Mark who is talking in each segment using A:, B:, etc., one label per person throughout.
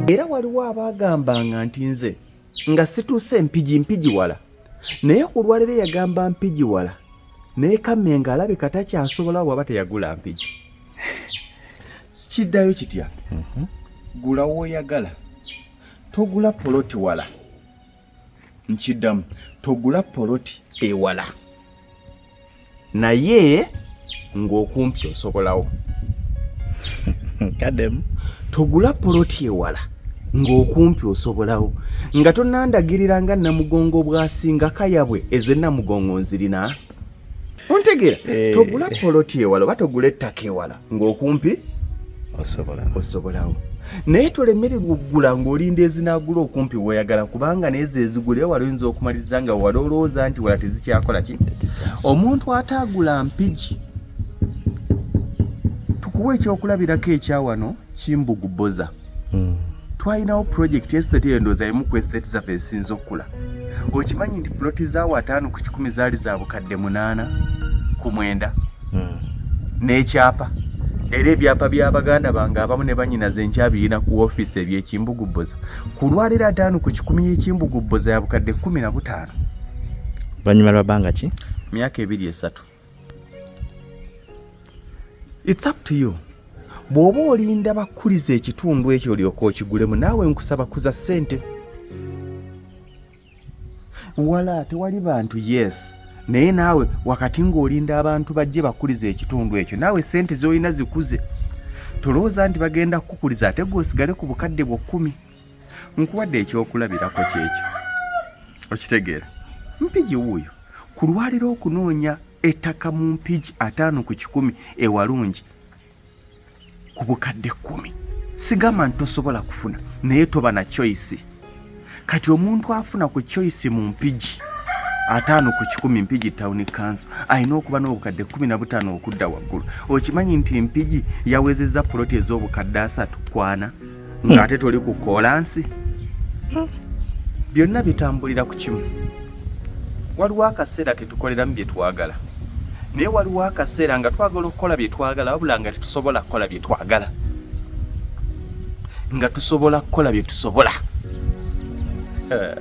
A: era waliwo abaagambanga nti nze nga situuse mpigi mpigi wala naye ku lwaliro yagamba mpigi wala naye kamenga alabika takyasobola waba teyagula mpigi kiddayo kitya mhm. gula woyagala togula poloti wala nkiddamu togula poloti ewala naye ng'okumpi osobolawo
B: kademu togula poloti
A: ewala ng'okumpi osobolawo nga tonandagirira nga namugongo bwasinga kayabwe ezenamugongo nzirina ontegeera eh. togula poloti ewala oba togula ettaka ewala ng'okumpi osobolawo naye tolemere kugula ng'olinda ezinaagula okumpi weoyagala kubanga neezo ezigula eyo wali oyinza okumaliriza nga wali olowooza nti wala tezikyakola ki omuntu ataagula mpigi tukuwa ekyokulabirako ekyawano kimbuguboza mm. twalinawo pulojekiti estate eyo ndowooza emu ku estate zaffe ezisinza okukula okimanyi nti puloti zaawo ataano ku kikumi zaali za bukadde munaana ku mwenda mm. n'ekyapa mm. era ebyapa bya baganda bange abamu ne banyinaze nkyabiyina ku ofiisi ebyekimbugubboza ku lwaliro ataano ku kikumi y'ekimbugubboza ya bukadde kumi na butaano
B: banyuma lwa bbanga ki myaka ebiri esatu
A: It's up to you. Bw'oba olinda bakuliza ekitundu ekyo olyoka okigulemu naawe nkusaba kuza ssente. Wala tewali bantu yes naye naawe wakati ng'olinda abantu bajje bakuliza ekitundu ekyo naawe ssente z'olina zikuze. Tolowooza nti bagenda kukukuliza ate gwe osigale ku bukadde bwo kkumi. nkuwadde ekyokulabirako kyekyo okitegeera mpigi wuuyo ku lwaliro okunoonya ettaka mu mpigi ataano ku kikumi ewalungi ku bukadde kkumi sigamba nti tosobola kufuna naye toba na choice kati omuntu afuna ku choice mu mpigi ataano ku kikumi mpigi town council alina okuba n'obukadde kumi na butaano okudda waggulu okimanyi nti mpigi yawezezza poloti ez'obukadde asatu kwana ng'ate toli ku koolansi byonna bitambulira ku kimu waliwo akaseera ketukoleramu bye twagala naye waliwo akaseera nga twagala okukola bye twagala wabula nga tetusobola kukola bye twagala nga tusobola kukola bye tusobola eh,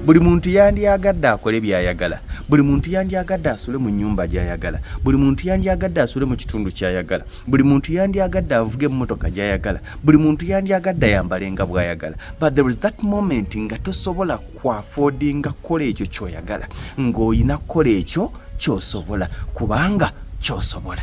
A: buli muntu yandyagadde akole byayagala buli muntu yandyagadde asule mu nyumba gyayagala buli muntu yandyagadde asule mu kitundu kyayagala buli muntu yandyagadde avuga emmotoka gyayagala buli muntu yandyagadde ayambale nga bwayagala but there is that moment nga tosobola kwafodinga kukola ekyo kyoyagala ng'olina kukola ekyo kyosobola kubanga kyosobola